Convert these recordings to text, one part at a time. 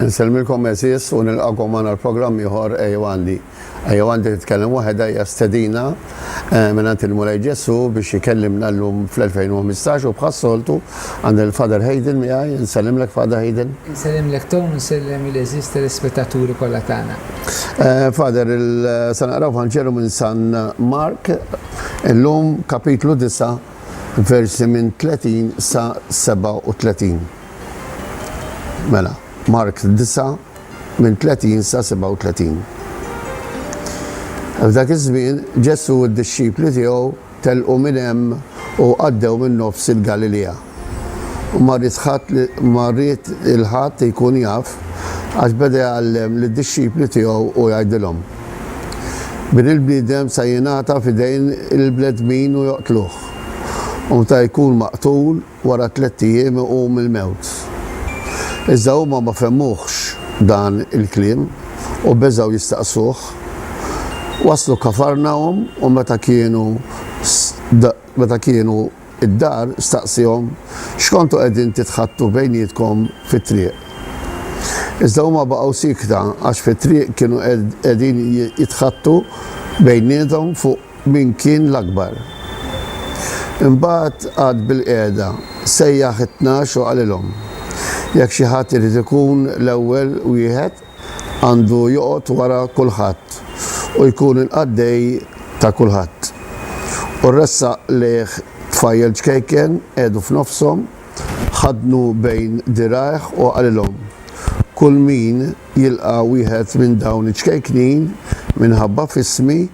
Insellmilkom għeżież u nilqagħkom magħna għal programm ieħor Ejjew Għandi. Ejjew Għandi titkellem waħedha hija stedina eh, mingħand il-Mulej Ġesù biex ikellimna llum fl-2015 u bħas-soltu għand il-Father Hayden miegħi, nsellimlek Father Hayden. Insellimlek Tom, insellem il-eżiż telespettaturi kollha tagħna. Eh, Father, il-sanaqraw Vanġelu minn San Mark, illum kapitlu 9 versi minn 30 sa 37. Mela, Mark 9 minn 30 sa 37. F'dak iż-żmien Ġesù u d-dixxipli tiegħu telqu minn hemm u għaddew minn nofs il-Galilea. U ma ried ħadd li ma ried il-ħadd jkun jaf għax beda jgħallem lid-dixxipli tiegħu u jgħidilhom. Bin il-bniedem se jingħata f'idejn il-bnedmin u joqtluh, u meta jkun maqtul, wara tlett ijiem iqum mill-mewt. Iżda huma ma fehmuhx dan il-kliem u beżgħu jistaqsuh. Waslu Kafarnahum u meta kienu meta kienu id-dar, staqsihom x'kontu qegħdin titħaddtu bejnietkom fit-triq. Iżda huma baqgħu siekta għax fit-triq kienu qegħdin jitħaddtu bejniethom fuq min kien l-akbar. Imbagħad qagħad bilqiegħda, sejjaħ it-tnax u qalilhom, Jekk xi ħadd irid ikun l-ewwel wieħed, għandu joqgħod wara kulħadd u jkun il-qaddej ta' kulħadd. U ressaq lejh tfajjel ċkejken, qegħdu f'nofshom, ħaddnu bejn dirgħajh u qalilhom, Kull min jilqa' wieħed minn dawn iċ-ċkejknin minħabba f'ismi,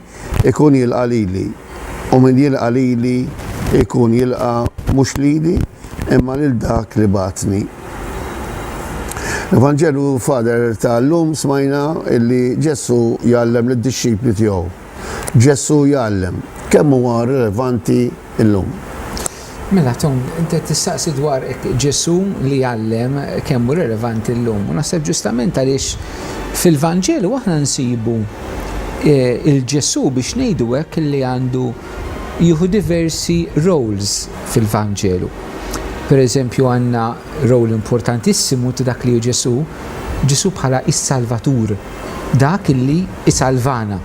ikun jilqa' lili, u min jilqa' lili jkun jilqa' mhux lili, imma lil dak li bagħatni. L-Evanġelju Father ta' llum smajna illi Ġesù jgħallem lid-dixxipli tiegħu. Ġesù jgħallem, kemm huwa rilevanti llum! Mela Tom, int qed tistaqsi dwar hekk Ġesù li għallem kemm hu relevanti llum. U naħseb ġustament għaliex fil-Vanġelu aħna nsibu il-Ġesù biex ngħidu hekk li għandu jieħu diversi roles fil-Vanġelu. Pereżempju għandna role importantissimu ta' dak li hu Ġesù, Ġesù bħala s-Salvatur. Dak illi jsalvana.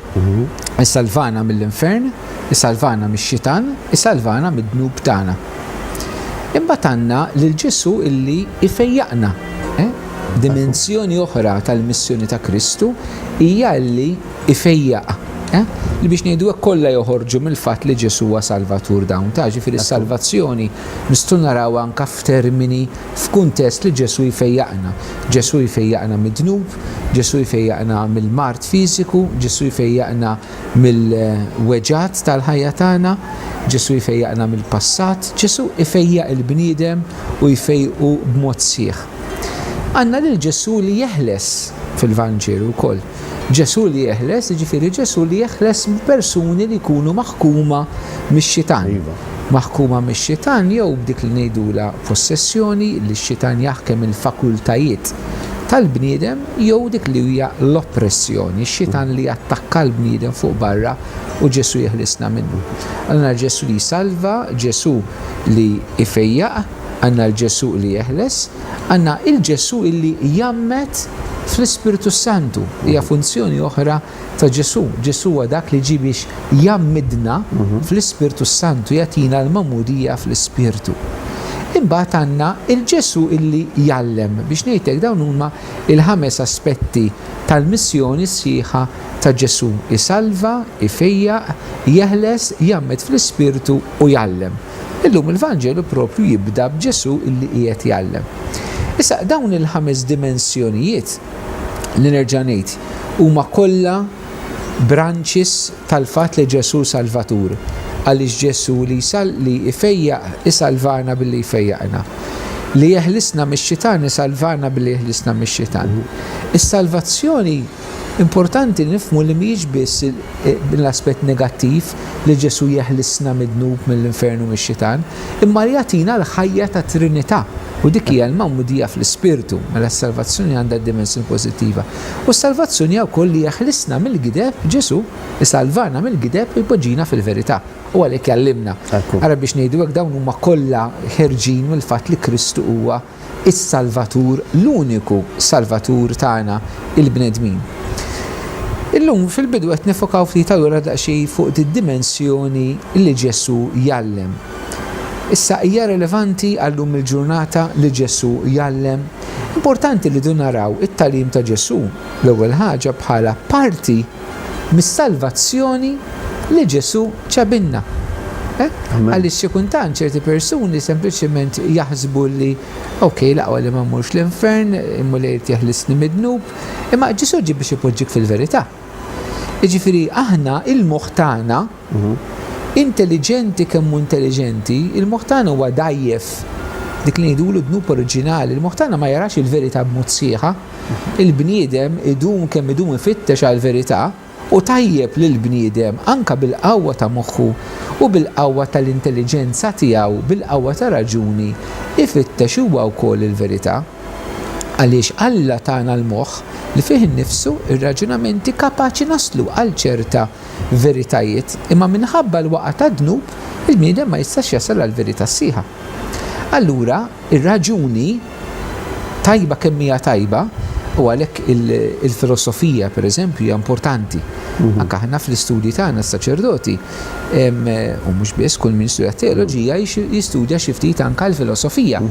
Jsalvana mill-infern, jsalvana mix-xitan, jsalvana mid-dnub tagħna. Imbagħad għandna lil Ġesù illi jfejjaqna. Dimensjoni oħra tal-missjoni ta' Kristu hija illi jfejjaq. Li biex ngħidu hekk kollha joħorġu mill-fatt li Ġesù huwa Salvatur dawn ta', ġifieri s-salvazzjoni nistgħu narawha anke f'termini f'kuntest li Ġesù jfejjaqna. Ġesù jfejjaqna mid-dnub, Ġesù jfejjaqna mill-mard fiżiku, Ġesù jfejjaqna mill-weġgħat tal-ħajja tagħna, Ġesù jfejjaqna mill-passat, Ġesù jfejjaq il-bniedem u jfejjqu b'mod sħiħ. Għandna lil Ġesù li jeħles fil-Vanġelu wkoll. Ġesù li jeħles, jiġifieri Ġesù li jeħles persuni li jkunu maħkuma mix-xitan. Iva. Maħkuma mix-xitan jew b'dik li ngħidulha possessjoni li x-xitan jaħkem il-fakultajiet tal-bniedem jew dik li hija l-oppressjoni, x-xitan li jattakka l-bniedem fuq barra u Ġesù jeħlisna minnu. Għandna l-Ġesù li jsalva, Ġesù li jfejjaq, għandna l-Ġesù li jeħles, Għandna il-Ġesù illi jgħammed fl-Ispirtu s-Santu, hija funzjoni oħra ta' Ġesù. Ġesù huwa dak li ġie biex jgħammidna fl-Ispirtu s-Santu, jagħtina l-magħmudija fl-Ispirtu. Imbagħad għandna il-Ġesù illi jgħallem. Biex ngħid hekk dawn huma l-ħames aspetti tal-missjoni sħiħa ta' Ġesù, isalva, ifejjaq, jeħles, jgħammed fl-Ispirtu u jgħallem. Illum il-Vanġelu proprju jibda b'Ġesù illi qiegħed jgħallem. Issa, dawn il-ħames dimensjonijiet li nerġa' ngħid huma kollha branches tal-fatt li Ġesù hu Salvatur, għaliex Ġesù li jsal li jfejjaq isalvana billi jfejjaqna, li jeħlisna mix-xitan isalvana billi jeħlisna mix-xitan. Is-salvazzjoni Importanti li nifhmu li mhijiex biss l-aspett negattiv li Ġesù jeħlisna mid-dnub, mill-infern u mix-xitan, imma li jagħtina l-ħajja tat-Trinità, u dik hija l-magħmudija fl-Ispirtu, mela s-salvazzjoni għandha d-dimensjoni pożittiva. U s-salvazzjoni hija wkoll li jeħlisna mill-gideb, Ġesù isalvana mill-gideb u jpoġġina fil-verità, u għalhekk jgħallimna. Ara biex ngħidu hekk dawn huma kollha ħerġin mill-fatt li Kristu huwa is-Salvatur, l-uniku Salvatur tagħna, il-bnedmin. Illum fil-bidu qed nifokaw ftit allura daqsxi fuq id-dimensjoni li Ġesù jgħallem. Issa hija relevanti għallum il-ġurnata li Ġesù jgħallem? Importanti li du naraw it-tagħlim ta' Ġesù l-ewwel ħaġa bħala parti mis-salvazzjoni li Ġesù ċabilna. Għaliex xi kultant ċerti persuni sempliċement jaħsbu li, ok, l-aqwa li ma mmurx l-infern, il-Mulej irid jeħlisni mid-dnub, imma Ġesù ġie biex ipoġġik fil-verità. Jiġifieri aħna l-moħħ tagħna, Hu intelliġenti kemm hu intelliġenti, il-moħħ tagħna huwa dgħajjef. Dik li ngħidulu d-dnub oriġinali, il-moħħ tagħna ma jarax il-verità b'mod sħiħa. Il-bniedem idum kemm idum ifittex għall-verità u tajjeb li l-bniedem, anke bil-qawwa ta' moħħu u bil-qawwa tal-intelliġenza tiegħu, bil-qawwa tar-raġuni, ifittex huwa wkoll il-verità. Għaliex Alla tana l-moħħ li fih innifsu, ir-raġunamenti kapaċi naslu għal ċerta veritajiet, imma minħabba l-waqgħa tad-dnub, il-bniedem ma jistax jasal għall-verità sħiħa. Allura, ir-raġuni, tajba kemm hija tajba, u għalhekk il-filosofija, pereżempju, hija importanti. Anke aħna fl-istudji tagħna s-saċerdoti, u mhux biss, kull min studja teoloġija jistudja xi ftit anke l-filosofija.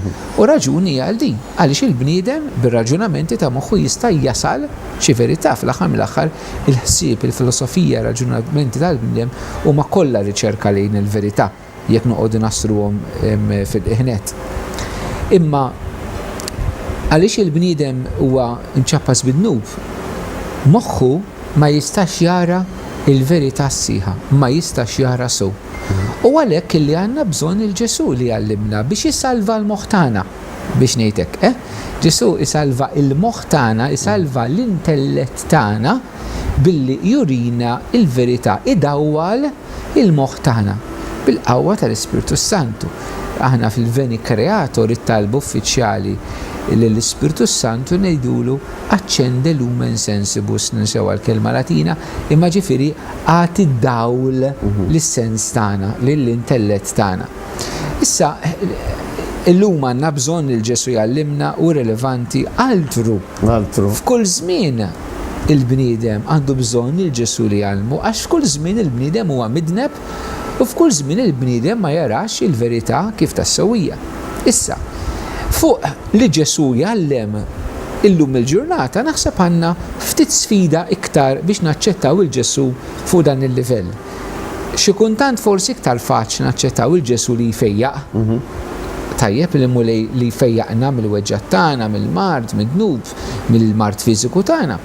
U raġuni hija għal din, għaliex il-bniedem bir-raġunamenti ta' moħħu jista' jasal xi verità, fl-aħħar mill-aħħar il-ħsieb, il-filosofija, ir-raġunamenti tal-bniedem huma kollha riċerka lejn il-verità, jekk noqogħdu nassruhom fil-qiegħnet. Imma għaliex il-bniedem huwa mċappas bid-dnub, moħħu ma jistax jara l-verità sħiħa, ma jistax jara sew. U għalhekk li għandna bżonn lil Ġesù li jgħallimna biex isalva l-moħħ tagħna. Biex ngħid hekk, eh? Ġesù isalva l-moħħ tagħna, isalva l-intellett tagħna billi jurina l-verità, idawwal il-moħħ tagħna bil-qawwa tal-Ispirtu s-Santu. Aħna fil-Veni Creator it-talba uffiċjali lill-Ispirtu s-Santu ngħidulu accende lumen sensibus, ninsew għall-kelma Latina, imma ġifieri agħti dawl lis-sens tagħna, lill-intellett tagħna. Issa, illum għandna bżonn lil Ġesu jgħallimna u rilevanti altru. Altru. F'kull żmien il-bniedem għandu bżonn lil Ġesu li jgħallmu għax f'kull żmien il-bniedem huwa midneb u f'kull żmien il-bniedem ma jarax il-verità kif tassew hija. Issa, fuq li Ġesu jgħallem illum il-ġurnata naħseb għandna ftit sfida iktar biex naċċettaw lil Ġesu fuq dan il-livell. Xi kuntant forsi iktar faċli naċċettaw il-Ġesu li jfejjaq. Tajjeb li Mulej li jfejjaqna mill-weġgħat tagħna, mill-mard, mid-dnub, mill-mard fiżiku tagħna.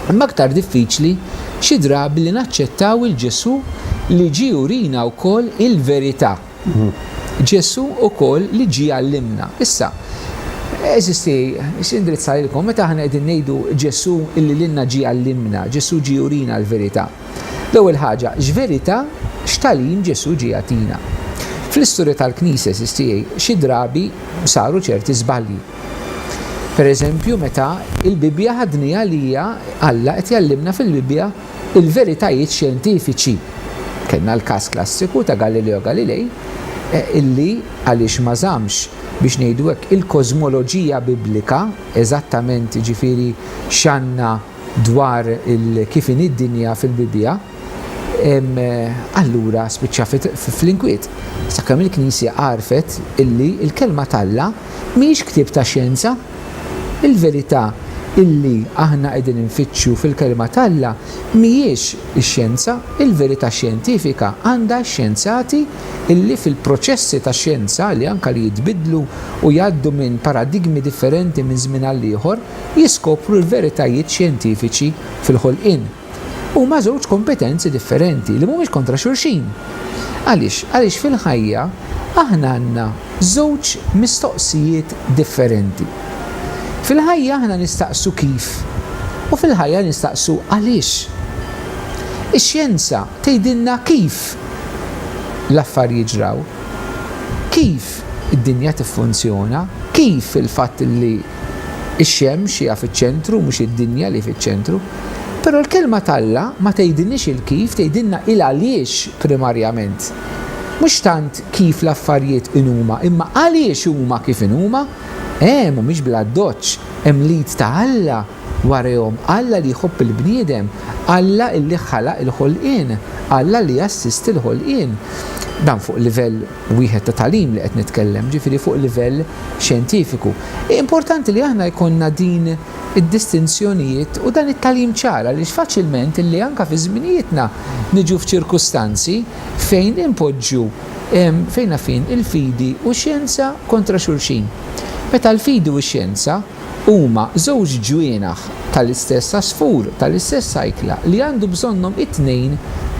Imma iktar diffiċli xi drabi li naċċettaw il-Ġesu li ġie jurina wkoll il-verità. Ġesu wkoll li ġie jgħallimna. Issa, għeżieżti, nixtieq indirizzha lilkom, meta aħna qegħdin ngħidu Ġesu li lilna ġie jgħallimna, Ġesu ġie jurina l-verità, L-ewwel ħaġa, x'verità, x'tagħlim Ġesù ġie jagħtina? Fl-istorja tal-Knisja, għeżież tiegħi, xi drabi saru ċerti żbalji. Pereżempju, meta l-Bibbja ħadniha li hija Alla qed jgħallimna fil-Bibbja l-veritajiet xjentifiċi. Kellna l-każ klassiku ta' Galileo Galilei li, għaliex ma żammx, biex ngħidu hekk, il-kożmoloġija Biblika eżattament, jiġifieri x'għandna, dwar il-kif inhi d-dinja fil-Bibbja, allura spiċċa fl-inkwiet, sakemm il-Knisja għarfet illi l-Kelma t'Alla mhijiex ktieb ta' xjenza. Il-verità illi aħna qegħdin infittxu fil-Kelma t'Alla mhijiex ix-xjenza, il-verità xjentifika għandha x-xjenzati illi fil-proċessi tax-xjenza li anke li jitbiddlu u jgħaddu minn paradigmi differenti minn żmien għall-ieħor, jiskopru l-veritajiet xjentifiċi fil-ħolqien. Huma żewġ kompetenzi differenti li mhumiex kontra xulxin. Għaliex? Għaliex fil-ħajja aħna għandna żewġ mistoqsijiet differenti. Fil-ħajja aħna nistaqsu kif u fil-ħajja nistaqsu għaliex. Ix-xjenza tgħidilna kif l-affarijiet ġraw, kif id-dinja tiffunzjona, kif il-fatt li Ix-xemx hija fiċ-ċentru mhux id-dinja li fiċ-ċentru. Però l-Kelma t'Alla ma tgħidilniex il-kif, tgħidilna il-għaliex primarjament. Mhux tant kif l-affarijiet inhuma, imma għaliex huma kif inhuma. E, mhumiex bl-addoċċ. Hemm l-id ta' Alla warehom, Alla li jħobb il-bniedem, Alla illi ħalaq il-ħolqien, Alla li jassisti l-ħolqien. Dan fuq livell wieħed ta' tagħlim li qed nitkellem, ġifieri fuq livell xjentifiku. Hi importanti li aħna jkollna din id-distinzjonijiet u dan it-tagħlim ċar għaliex faċilment illi anke fi żminijietna niġu f'ċirkustanzi fejn inpoġġu fejn la fejn il-fidi u x-xjenza kontra xulxin. Meta l-fidi u x-xjenza huma żewġ ġwienaħ tal-istess għasfur, tal-istess għajkla li għandu bżonnhom it-tnejn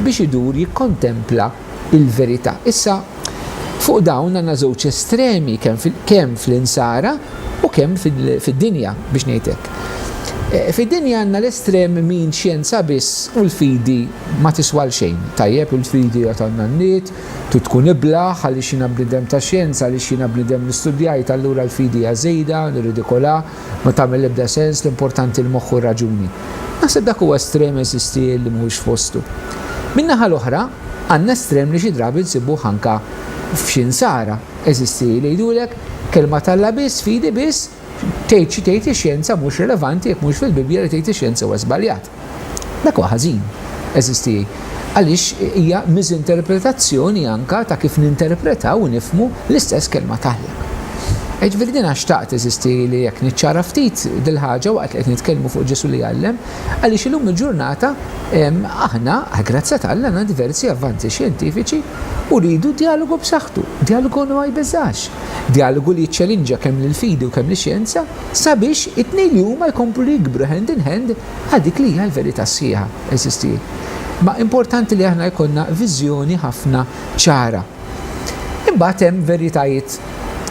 biex idur jikkontempla il-verità. Issa, fuq dawn għandna żewġ estremi kemm fl-insara u kemm fid-dinja biex ngħid hekk. E, fid-dinja għandna l-estrem min xjenza biss u l-fidi ma tiswal xejn. Tajjeb il-fidi għad għandna n-nid, tu tkun iblaħ għaliex jiena bnidem ta' xjenza, għaliex jiena bnidem li studjajt allura l-fidi hija żejda, nirridikola. Ma tagħmel l-ebda sens, l-importanti l-moħħ u r-raġuni. Naħseb dak huwa estrem eżistiel li mhuwiex f'postu. Min-naħa l-oħra, għandna estrem li xi drabi nsibuh anka f'xi nsara eżistiel li jgħidulek, Kelma t'Alla biss, fidi biss, tgħid xi tgħid ix-xjenza mhux relevanti jekk mhux fil-Bibbja li tgħid ix-xjenza huwa żbaljat. Dak huwa ħażin, għeżież tiegħi, għaliex hija miżinterpretazzjoni anke ta' kif ninterpretaw u nifhmu l-istess Kelma t'Alla. Jiġifieri jiena xtaqt, għeżież tiegħi, li hekk niċċara ftit dil-ħaġa waqt li qed nitkellmu fuq Ġesù li għallem, għaliex illum il-ġurnata aħna, għall-grazzja t'Alla, għandna diversi avvanzi xjentifiċi u rridu djalogu b'saħħtu, djalogu li ma jbeżżax, djalogu li jiċċelinġa kemm lill-fidi u kemm lix-xjenza. Sabiex it-tnejn li huma jkomplu li jikbru hand in hand għal dik li hija l-verità sħiħa, eżisti. Ma importanti li aħna jkollna viżjoni ħafna ċara. Imbagħad hemm veritajiet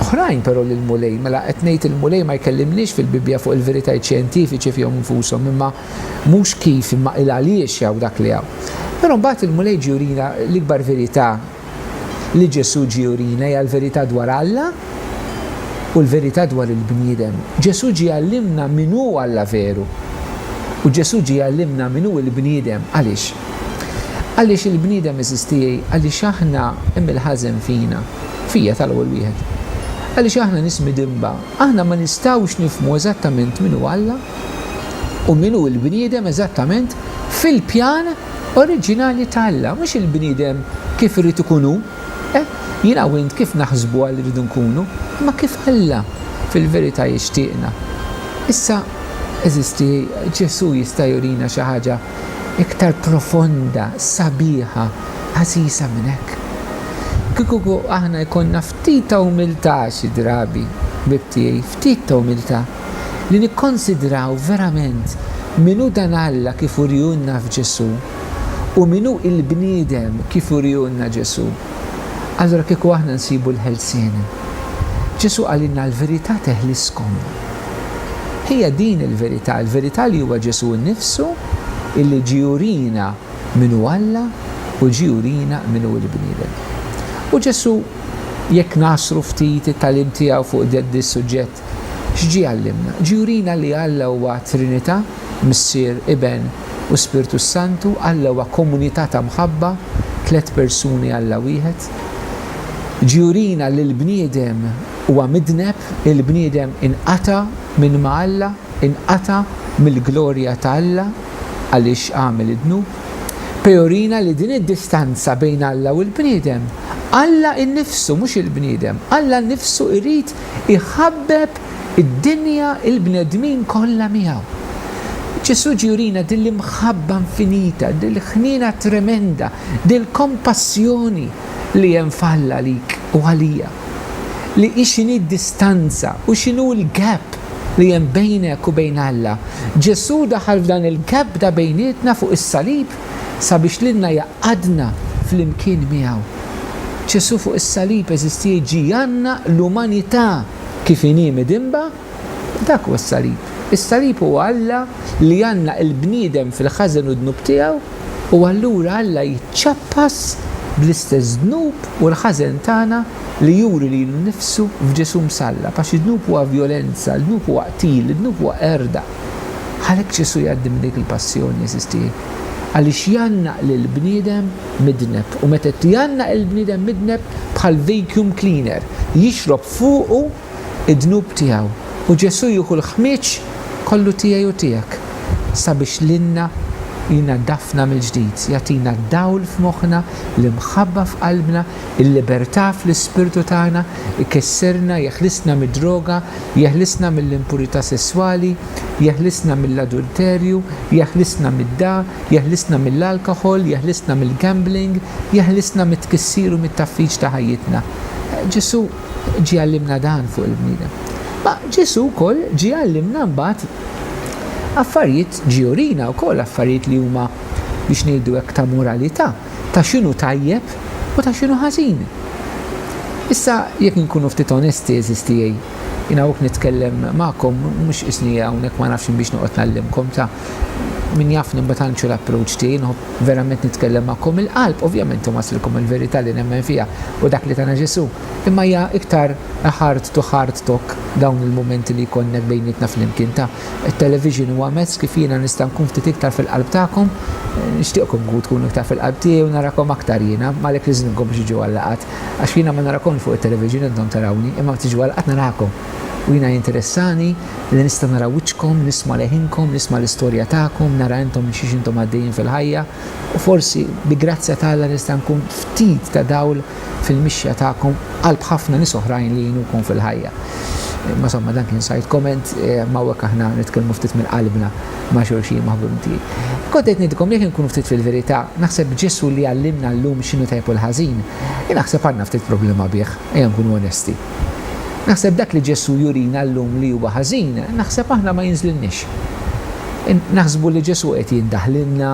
oħrajn però li l-Mulej, mela qed ngħid il-Mulej ma jkellimniex fil-Bibbja fuq il-veritajiet xjentifiċi fihom infushom imma mhux kif imma il-għaliex hawn dak li hawn. Però mbagħad il-Mulej ġie jurina l-ikbar verità li Ġesù ġie jurina hija l-verità dwar Alla u l-verità dwar il-bniedem. Ġesù ġie jgħallimna min hu Alla veru. U Ġesù ġie jgħallimna min hu l-bniedem. Għaliex? Għaliex il-bniedem, għeżież tiegħi, għaliex aħna hemm il-ħażen fina, fija tal-ewwel wieħed. Għaliex aħna nies midinba, aħna ma nistgħux nifhmu eżattament min hu Alla u min hu l-bniedem eżattament fil-pjan oriġinali ta' Alla, mhux il-bniedem kif irid ikun hu. Eh, jiena u int kif naħsbu għal irridu nkunu, imma kif Alla fil-verità jixtieqna. Issa, għeżiżti, Ġesù jista' jurina xi ħaġa iktar profonda, sabiħa, għażiża minn hekk. Kieku aħna jkollna ftit ta' umiltà xi drabi, ħbieb tiegħi, ftit ta' umiltà, li nikkonsidraw verament min hu dan Alla kif uriehulna f'Ġesù u min hu l-bniedem kif uriehulna Ġesù, allura kieku aħna nsibu l-ħelsien. Ġesù qalilna l-verità teħliskom. Hija din il-verità, il-verità li huwa Ġesù nnifsu illi ġie jurina min hu Alla u ġie jurina min hu l-bniedem. U Ġesù, jekk ngħassru ftit it-tagħlim tiegħu fuq dan is-suġġett, X'ġie jgħallimna? Ġie jurina li Alla huwa Trinità, Missier, Iben, u Spirtu s-Santu, Alla huwa komunità ta' mħabba, tliet persuni Alla wieħed. Ġie jurina li l-bniedem huwa midneb, il-bniedem inqata' minn ma' Alla, inqata' mill-glorja ta' Alla għaliex għamel id-dnub. Pe' jurina li din id-distanza bejn Alla u l-bniedem, Alla innifsu, mhux il-bniedem, Alla nnifsu jrid iħabbeb id-dinja u l-bnedmin kollha miegħu. Ġesù ġie jurina din l-imħabba infinita, din l-ħniena tremenda, din l-kompassjoni li hemm f'Alla għalik u għalija, li hi x'inhi d-distanza u x'inhu l-gap li hemm bejnek u bejn Alla. Ġesù daħal f'dan il-gap ta' bejnietna fuq is-salib sabiex lilna jgħaqqadna flimkien miegħu. Ġesù fuq is-salib eżistiex ġie jgħannaq l-umanità kif inhi midinba, dak huwa s-salib. Is-salib huwa Alla li jgħannaq il-bniedem fil-ħażen u d-dnub tiegħu u allura Alla jiċċappas bl-istess dnub u l-ħażen tagħna li juri lilu nnifsu f'Ġesù msallab għax id-dnub huwa vjolenza, id-dnub huwa qtil, id-dnub huwa qerda. Għalhekk Ġesù jgħaddi minn dik il-passjoni, jeżisti, għaliex jgħannaq lill-bniedem midneb. U meta jgħannaq il-bniedem midneb, bħal vacuum cleaner, jixrob fuqu d-dnub tiegħu. U Ġesù jieħu l-ħmieġ kollu tiegħi u tiegħek sabiex lilna jnaddafna mill-ġdid, jagħtina d-dawl f'moħħna, l-imħabba f'qalbna, il-libertà fl-ispirtu tagħna, ikisserna, jeħlisna mid-droga, Jeħlisna mill-impurità sesswali, jeħlisna mill-adulterju, jeħlisna mid-da, jeħlisna mill-alkoħol, jeħlisna mill-gambling, jeħlisna mit-tkissir u mit-tgħaffiġ ta' ħajjitna. Ġesù ġie għallimna dan fuq il-bniedem. Ma Ġesù wkoll ġie għallimna mbagħad affarijiet ġie urina wkoll affarijiet li huma biex ngħidu hekk ta' moralità. ta' x'inhu tajjeb u ta' x'inhu ħażin. Issa, jekk inkunu ftit onesti, għeżież tiegħi, jien hawnhekk nitkellem magħkom mhux qisni hawnhekk ma nafx inbiex noqgħod ngħallimkom, ta' min jafni mbagħad għandu xi l-approach tiegħi, nħobb verament nitkellem magħkom mill-qalb, ovvjament inwasslilkom il-verità li nemmen fiha u dak li tana Ġesù, imma hija iktar a heart to heart talk dawn il-mumenti li jkollna bejnietna flimkien ta' It-television huwa mezz kif jiena nista' nkun ftit iktar fil-qalb tagħkom. Nixtieqkom nkun tkunu iktar fil-qalb tiegħi u narakom aktar jiena. M'għalhekk nistiedinkom biex tiġu għal-laqgħat. Għax jiena ma narakomx fuq it-television intom tarawni, imma meta tiġu għal-laqgħat narakom. U jiena jinteressani li nista' nara wiċċkom, nisma' leħinkom, nisma' l-istorja tagħkom, nara intom minn xiex intom għaddejjin fil-ħajja. U forsi, bi grazzja t'Alla nista' nkun ftit ta' dawl fil-mixja tagħkom qalb ħafna nies oħrajn li jgħinukom fil-ħajja. Imma somma dan kien side comment, imma hawnhekk aħna nitkellmu ftit minn qalbna ma' xulxin maħbubin tiegħi. Kont qed ngħidilkom li jekk inkunu ftit fil-verità, naħseb b'Ġesù li għallimna llum x'inhu tajjeb u l-ħażin, jien naħseb għandna ftit problema bih, ejja nkunu onesti. Naħseb dak li Ġesù jurina llum li huwa ħażin, naħseb aħna ma jinżlilniex. Naħsbu li Ġesù qed jindaħ lilna,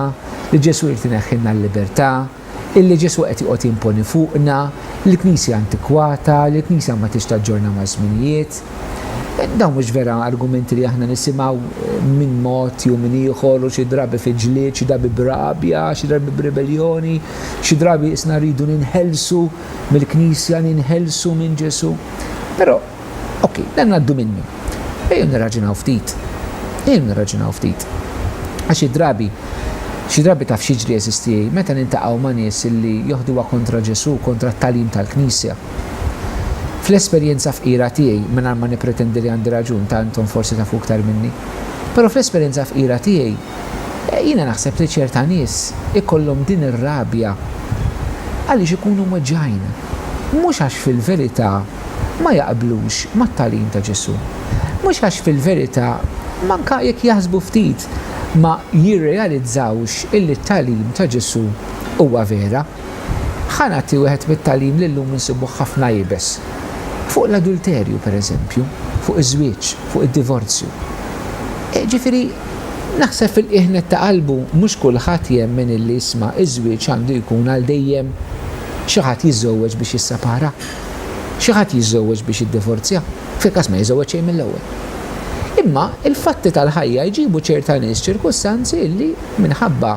li Ġesù jrid ineħħilna l-libertà, illi Ġesù qed joqgħod jimponi fuqna, l-Knisja antikwata, li l-Knisja ma tridx taġġorna maż-żminijiet. Dawn mhux vera argumenti li aħna nisimgħu minn mod jew minn ieħor u xi drabi fi ġlied, xi drabi b'rabja, xi drabi b'ribeljoni, xi drabi qisna rridu ninħelsu mill-Knisja, ninħelsu minn Ġesù. Però, Ok, dan għaddu minnu. Ejjew nirraġunaw ftit. Ejjew nirraġunaw ftit. Għax xi drabi, xi drabi taf x'jiġri għeżiż tiegħi meta niltaqgħu ma' nies illi joħduha kontra Ġesù, kontra t-tagħlim tal-Knisja. Fl-esperjenza fqira tiegħi, mingħajr ma nippretendi li għandi raġun, ta' intom forsi tafu iktar minni, però fl-esperjenza fqira tiegħi, eh, jiena naħseb li ċerta nies ikollhom din ir-rabja għaliex ikunu mweġġgħin. Mhux għax fil-verità ma jaqblux mat-tagħlim ta' Ġesù. Mhux għax fil-verità, manka jekk jaħsbu ftit, ma jirrealizzawx illi t-tagħlim ta' Ġesù huwa vera. Ħa nagħti wieħed mit-tagħlim li llum insibuh ħafna iebes. Fuq l-adulterju, per eżempju, fuq iż-żwieġ, fuq id-divorzju. Ġifieri, naħseb fil-qiegħ nett ta' qalbu mhux kulħadd jemmen illi isma' iż-żwieġ għandu jkun għal dejjem, xi ħadd jiżżewweġ biex jissepara. Xi ħadd jiżżewweġ biex jiddivorzja? Fil-każ ma jiżżewweġ xejn mill-ewwel. Imma l-fatti tal-ħajja jġibu ċerta nies ċirkustanzi illi minħabba,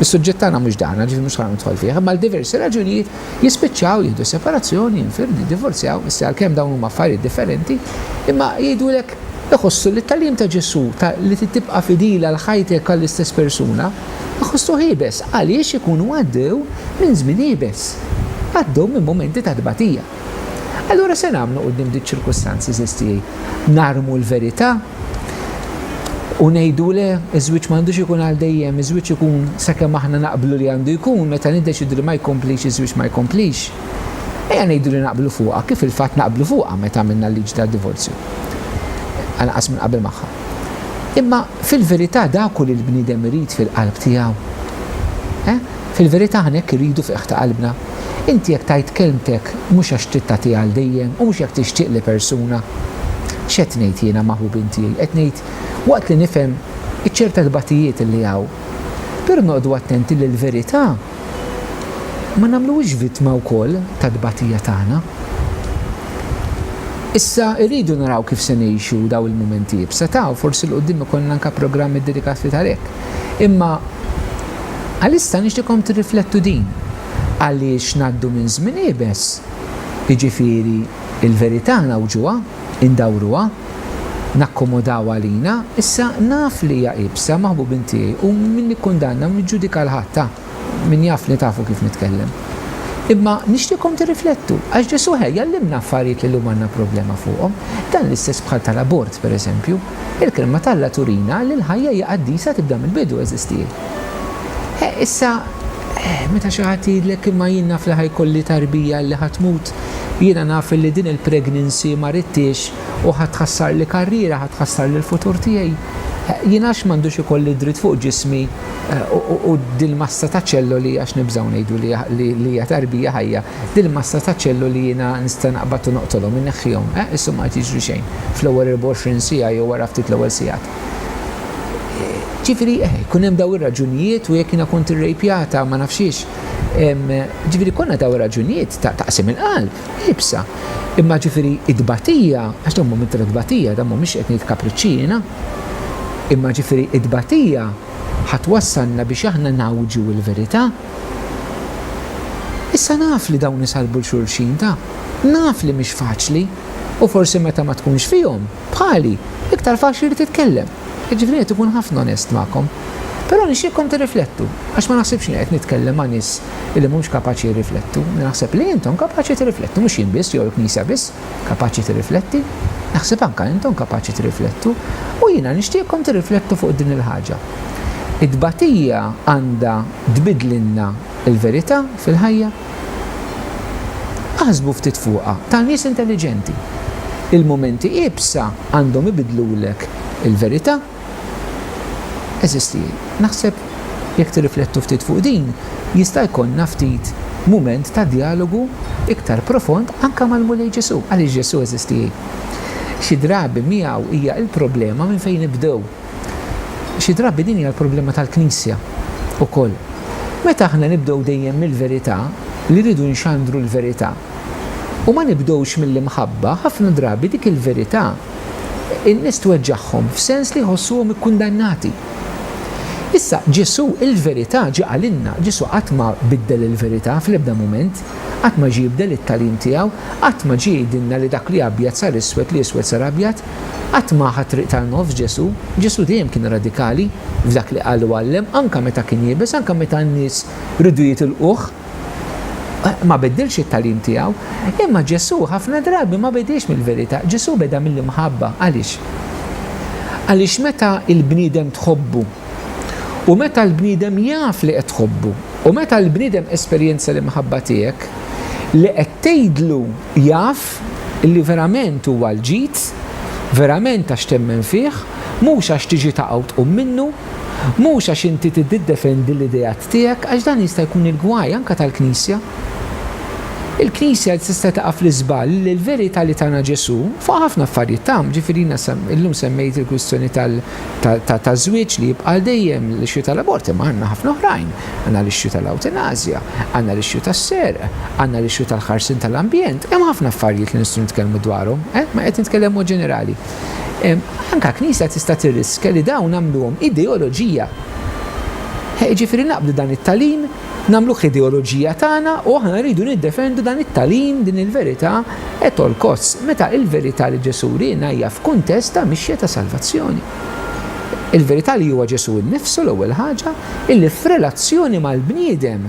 is-suġġett tagħna mhux dan, ġifieri mhux ħa nidħol fih, imma għal diversi raġunijiet jispiċċaw jieħdu separazzjoni, jinfirdu, jiddivorzjaw, issa għalkemm dawn huma affarijiet differenti, imma jgħidulek iħossu li t-tagħlim ta' Ġesù ta' li trid tibqa' fidili għal ħajtek għall-istess persuna, Iħossuh iebes għaliex ikunu għaddew minn żmien iebes, għaddew minn mumenti ta' tbatija. Allura se nagħmlu quddiem di ċ-ċirkustanzi żiż tiegħi? Narmu l-verità u ngħidu le, iż-żwieġ m'għandux ikun għal dejjem, iż-żwieġ ikun sakemm aħna naqblu li għandu jkun, meta niddeċiedu li ma jkomplix iż-żwieġ ma jkomplix. Ejja ngħidu li naqblu fuqha, kif fil-fatt naqblu fuqha meta għamilna l-liġi tad-divorzju, anqas minn qabel magħha. Imma fil-verità dak hu li l-bniedem irid fil-qalb tiegħu. Eh? Fil-verità aħna hekk irridu f'qiegħ ta' qalbna. Inti jekk tgħid kelmtek mhux għax trid tagħtiha għal dejjem u mhux jekk tixtieq li persuna. X'qed ngħid jiena maħbubin tiegħi? Qed ngħid waqt li nifhem iċ-ċerta tbatijiet li hawn. Però noqogħdu attenti li l-verità. ma nagħmluhiex vittma wkoll tat-tbatija tagħna. Issa rridu naraw kif se ngħixu dawn il-mumenti iebsa ta' u forsi 'l quddiem ikollna anke programm iddedikat li għalhekk. Imma għalissa nixtieqkom tirriflettu din, għaliex ngħaddu minn żmien iebes, jiġifieri l-verità ngħawġuha, indawruha, nakkomodawha għalina, issa naf li hija iebsa, maħbubin tiegħi, u min nikkundanna u niġġudika 'l ħadd, ha, min jafni tafu kif nitkellem. Imma nixtieqkom tirriflettu, għax Ġesù ħa jgħallimna affarijiet li llum għandna problema fuqhom. Dan l-istess bħal tal-abort, per eżempju. Il-Kelma t'Alla turina li l-ħajja hija qaddisa tibda mill-bidu, għeżież tiegħi. Issa, Eh, meta xi ħadd jgħidlek imma jien naf li ħajkolli tarbija li ħa tmut, jiena naf li din il-pregnancy ma ridtiex u ħa tħassarli karriera, ħa tħassarli l-futur tiegħi. Eh, jien għax m'għandux ikolli dritt fuq ġismi eh, u dil-massa ta' ċelloli għax nibżgħu ngħidu li hija tarbija ħajja, dil-massa ta' ċelloli jiena nista' naqbad u noqtolhom, inneħħihom, eh, issu ma qed jiġri xejn fl-ewwel 24 siegħa jew wara ftit l-ewwel sigħat. Ġifiri, eh, kun hemm daw ir-raġunijiet u jekk jiena kont irrejpjata ma nafxiex. Ġifiri, konna daw ir-raġunijiet ta' taqsim il-qalb, ibsa. Imma ġifiri, id-batija, għax dawn momenti ta' tbatija, dawn mhumiex qed ngħid kapriċċina, imma ġifiri, id-batija ħadd wassalna biex aħna ngħawġu l-verità. Issa naf li dawn isalbu 'l xulxin, taf. Naf li mhix faċli u forsi meta ma tkunx fihom, Bħali, iktar faċli li titkellem. Jiġifieri irid ikun ħafna onest magħkom. Però nixtieqkom tirriflettu, għax ma naħsibx li qiegħed nitkellem ma' nies li mhumx kapaċi jirriflettu. Naħseb li intom kapaċi tirriflettu, mhux jien biss jew il-Knisja biss kapaċi tirrifletti. Naħseb anke intom kapaċi tirriflettu. U jiena nixtieqkom tirriflettu fuq din il-ħaġa. It-tbatija għandha tbiddlilna Il-verità fil-ħajja? Aħsbu ftit fuqha, ta' nies intelliġenti. Il-mumenti iebsa għandhom ibiddlulek il-verità. Għeżiżti, naħseb jekk tirriflettu ftit fuq din, jista' jkollna ftit mument ta' djalogu iktar profond anke mal-Mulej Ġesù. Għaliex Ġesù, għeżiżti, xi drabi miegħu hija l-problema minn fejn nibdew. Xi drabi din hija l-problema tal-Knisja wkoll. Meta aħna nibdew dejjem mill-verità, li rridu nxandru l-verità, u ma nibdewx mill-imħabba, ħafna drabi dik il-verità in-nies tweġġagħhom f'sens li jħossuhom ikkundannati. Issa, Ġesù il-verità ġie qalilna, Ġesù qatt ma biddel il-verità fl-ebda mument, qatt ma ġie jibdel it-tagħlim tiegħu, qatt ma ġie jgħidilna li dak li abjad sar iswed, li iswed sar abjad. Qatt ma ħa triq tan-nofs Ġesù. Ġesù dejjem kien radikali f'dak li qal u għallem, anke meta kien iebes, anke meta n-nies riedu jitilquh. Ma biddilx it-tagħlim tiegħu. Imma Ġesù ħafna drabi ma bediex mill-verità. Ġesù beda mill-imħabba. Għaliex? Għaliex meta l-bniedem tħobbu, u meta l-bniedem jaf li qed tħobbu, u meta l-bniedem esperjenza l-imħabba tiegħek, li qed tgħidlu jaf Kristu. Li verament huwa l-ġid, verament għax temmen fih, mhux għax tiġi taqgħa u tqum minnu, mhux għax inti tiddidefendi l-ideat tiegħek, għax dan jista' jkun il-gwaj anke tal-Knisja. Il-Knisja tista' taqa' fl-iżball li l-verità li tana Ġesù, fuq ħafna affarijiet tagħhom, ġifieri jiena illum semmejt il-kwistjoni tal- ta' żwieġ li jibqa' għal dejjem, l-issue tal-abort, imma għandna ħafna oħrajn. Għandna l-issue tal-ewtanasja, għandna l-issue tas-serq, għandna l-issue tal-ħarsien tal-ambjent, hemm ħafna affarijiet li nistgħu nitkellmu dwarhom, eh, ma qed nitkellem mod ġenerali. Anka Knisja tista' tirriskja li dawn nagħmluhom ideoloġija. Jiġifieri naqbdu dan it-tagħlim nagħmluh l-ideoloġija tagħna u aħna rridu niddefendu dan it-tagħlim, din il-verità at all costs, meta l-verità li Ġesù wriena hija f'kuntest ta' mixja ta' salvazzjoni. Il-verità li huwa Ġesù nnifsu l-ewwel ħaġa, illi f'relazzjoni mal-bniedem,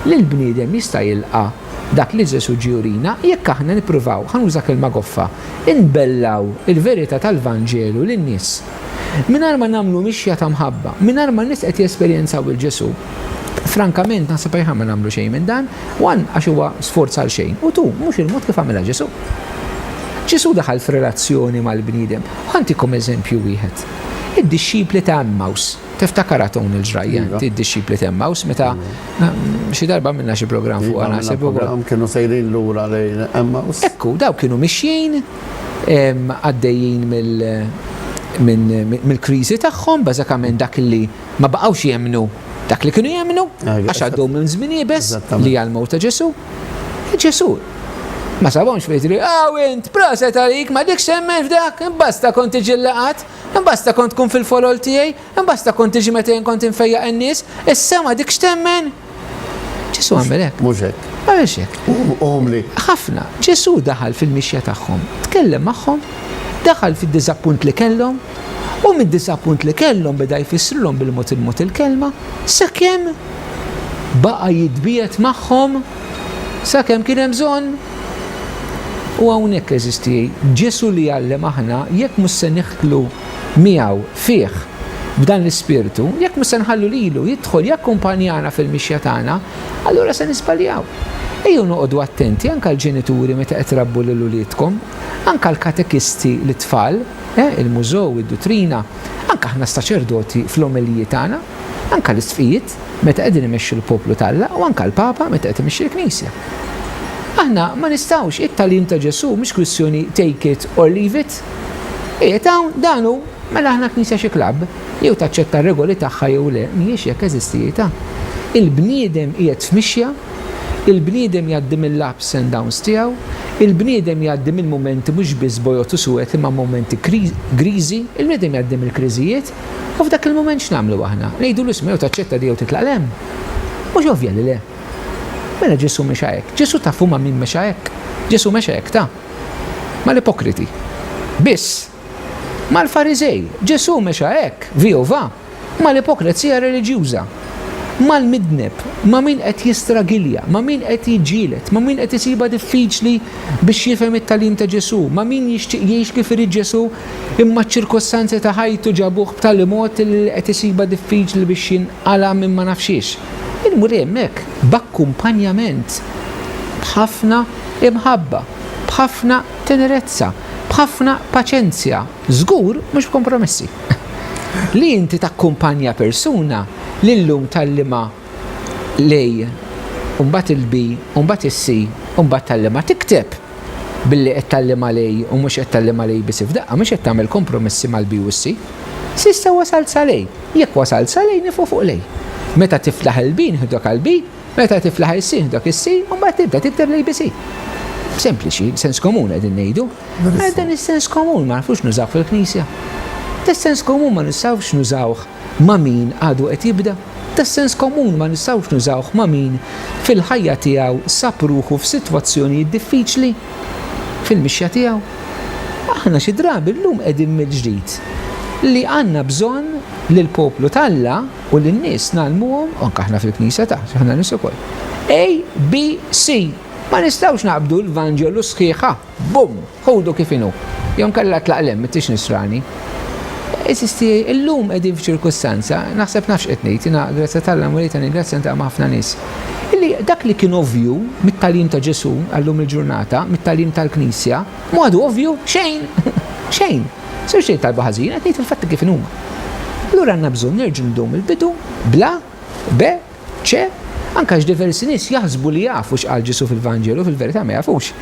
li l-bniedem jista' jilqa' dak li Ġesù ġie jurina jekk aħna nippruvaw, ħa nuża kelma goffa, inbellaw il-verità tal-Vanġelu lin-nies. Mingħajr ma nagħmlu mixja ta' mħabba, mingħajr ma n-nies qed jesperjenzaw lil Ġesù, frankament naħseb aħjar ma nagħmlu xejn minn dan, one għax huwa sforz għal xejn u two mhux il-mod kif għamilha Ġesù. Ġesù daħal f'relazzjoni mal-bniedem. Ħa ntikom eżempju wieħed. Id-dixxipli ta' Emmaus, tiftakar għad hawn il-ġrajja inti iva. d-dixxipli ta' Emmaus meta iva. ehm, xi darba għamilna xi programm fuq għana iva, sebu. Kienu sejrin lura lejn Emmaus. Ekku, daw kienu mixjin għaddejjin mill-kriżi tagħhom, bażikament dak li ma baqgħux jemmnu dak li kienu jemmnu, għax għaddew minn żmien iebes li hija l-mewt ta' Ġesù. Ġesù ma sabhomx fejn jidhri, aw int, proset għalik, ma dikx temmen f'dak, imbasta kont tiġi l-laqgħat, imbasta kont tkun fil-folol tiegħi, Imbasta kont tiġi meta jien kont infejjaq in-nies, is-sema dik x'temmen? Ġesu għamel hekk. Mhux hekk. Għamilx hekk. Umli. Ħafna. Ġesu daħal fil-mixja tagħhom, tkellem magħhom, daħal fid-diżappunt li kellhom, u mid-diżappunt li kellhom beda jfissrilhom bil-mod il-mod il-kelma, sakemm baqa' jitbiet magħhom sakemm kien hemm bżonn. U hawnhekk eżisti, Ġesu li jgħallem aħna jekk mhux se niħtlu miegħu, fih, b'dan l-ispirtu, jekk mhux se nħallu lilu jidħol jakkumpanjana fil-mixja tagħna, allura se niżbaljaw. Ejjew noqogħdu attenti, anke l-ġenituri meta qed trabbu lil uliedkom, anke l-katekisti lit-tfal, eh, il-mużew, id-duttrina, anke aħna s-saċerdoti fl-omeliji tagħna, anke l-isqfijiet meta qegħdin imexxu l-poplu t'Alla u anke l-Papa meta qed imexxi l-Knisja. Aħna ma nistgħux, it-tagħlim ta' Ġesù mhux kwistjoni take it or leave it. Qiegħed hawn, dan hu, mela aħna Knisja xi klabb? Jew taċċetta r-regoli tagħha jew le, mhijiex jekk eżistijitha. Il-bniedem qiegħed f'mixja, il-bniedem jgħaddi mill-ups and downs tiegħu, il-bniedem jgħaddi minn mumenti mhux biss bojod u suwed imma mumenti griżi, il-bniedem jgħaddi mill-kriżijiet, u f'dak il-mument x'nagħmlu aħna? Ngħidulu isma' jew taċċetta di jew titlaq 'l hemm? Mhux ovvja li le. Mela Ġesù mexa hekk. Ġesù tafu ma' min mexa hekk? Ġesù mexa hekk ta. Mal-ipokriti. Biss. Mal-Fariżej. Ġesù mexa hekk, vijo va, mal-ipokrezija reliġjuża. Mal-midneb, ma' min qed jistragilja, ma' min qed jiġġieled, ma' min qed isibha diffiċli biex jifhem it-tagħlim ta' Ġesù, ma' min jixtieq jgħix kif irid Ġesù imma ċ-ċirkostanzi ta' ħajtu ġabuh b'tali mod li qed isibha diffiċli biex jinqala' minn ma nafx xiex. Imur hemmhekk b'akkumpanjament b'ħafna Imħabba, b'ħafna tenerezza, b'ħafna paċenzja, żgur mhux b'kompromessi. Li inti takkumpanja persuna li llum tgħallimha l-A u mbagħad il-B u mbagħad is-C u mbagħad tgħallimha tikteb billi qed tgħallimha l-A u mhux qed tgħallimha l-A biss f'daqqa mhux qed tagħmel kompromessi mal-B u s-C. S'issa wasalt sal-A. Jekk wasalt sal-A nifqu fuq l-A. Meta tiflaħ il-B nieħdok għall-B Meta tiflaħ is-sin dak is-si u mbagħad tibda tikteb l-ABC. Sempliċi, sens komun qegħdin ngħidu. Għal dan is-sens komun ma nafux nużaw fil-Knisja. Tas-sens komun ma nistgħux nużawh ma' min għadu qed jibda. Tas-sens komun ma nistgħux nużawh ma' min fil-ħajja tiegħu sab ruħu f'sitwazzjonijiet diffiċli fil-mixja tiegħu. Aħna xi drabi llum qegħdin mill-ġdid li għandna bżonn li l-poplu t'Alla u lin-nies ngħallmuhom, anke aħna fil-Knisja ta', aħna nies ukoll, ABC. Ma nistgħux naqbdu l-Vanġelu sħiħ ha, bum, ħudu kif inhu. Jew inkella tlaq 'l hemm, m'intix Nisrani. Għażiż tiegħi, illum qegħdin f'ċirkustanza, naħseb naf x'qed ngħid, jiena grazzja t'Alla Mulejta ningrazzja niltaqa' ma' ħafna nies, illi dak li kien ovvju mit-tagħlim ta' Ġesù għal-lum il-ġurnata, mit-tagħlim tal-Knisja, B'mod ovvju, xejn! Xejn! Sirx tgħid talba ħażina, qed ngħid il-fatti kif inhuma. Allura għandna bżonn nerġgħu nibdew mill-bidu, bl-A, B, C, anke għax diversi nies jaħsbu li jafu x'qal Ġesù fil-Vanġelu u fil-verità ma jafux.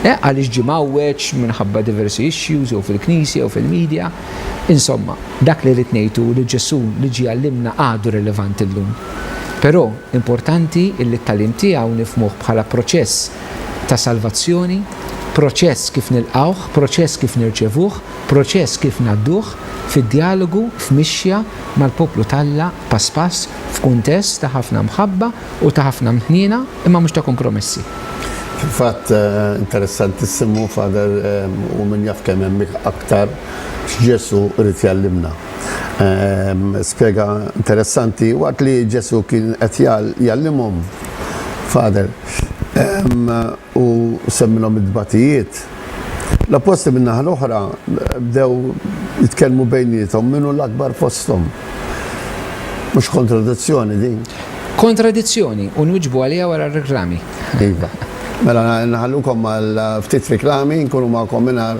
Eh, għaliex ġie mgħawweġ minħabba diversi issues jew fil-Knisja jew fil-media. Insomma, dak li rrid ngħid hu li Ġesù li ġie għallimna għadu relevanti llum. Però, importanti illi t-tagħlim tiegħu nifhmuh bħala proċess ta' salvazzjoni, proċess kif nilqgħuh, proċess kif nirċevuh, proċess kif ngħadduh fid-djalogu, f'mixja mal-poplu t'Alla pass pass f'kuntest ta' ħafna mħabba u ta' ħafna mħniena imma mhux ta' kompromessi. Fil-fatt, interessantissimu, Father, u min jaf kemm hemm aktar, x'Ġesù ried jgħallimna. Spjega interessanti, waqt li Ġesù kien qed jgħallimhom, Father, ehm, u semminhom id-dbatijiet. L-apposti min-naħa l-oħra bdew jitkellmu bejnietom minnu l-akbar fosthom. Mhux kontradizzjoni din. Kontradizzjoni u nwiġbu għalija wara r-reklami. Iva. Mela nħallukom għal ftit reklami, nkunu magħkom mingħajr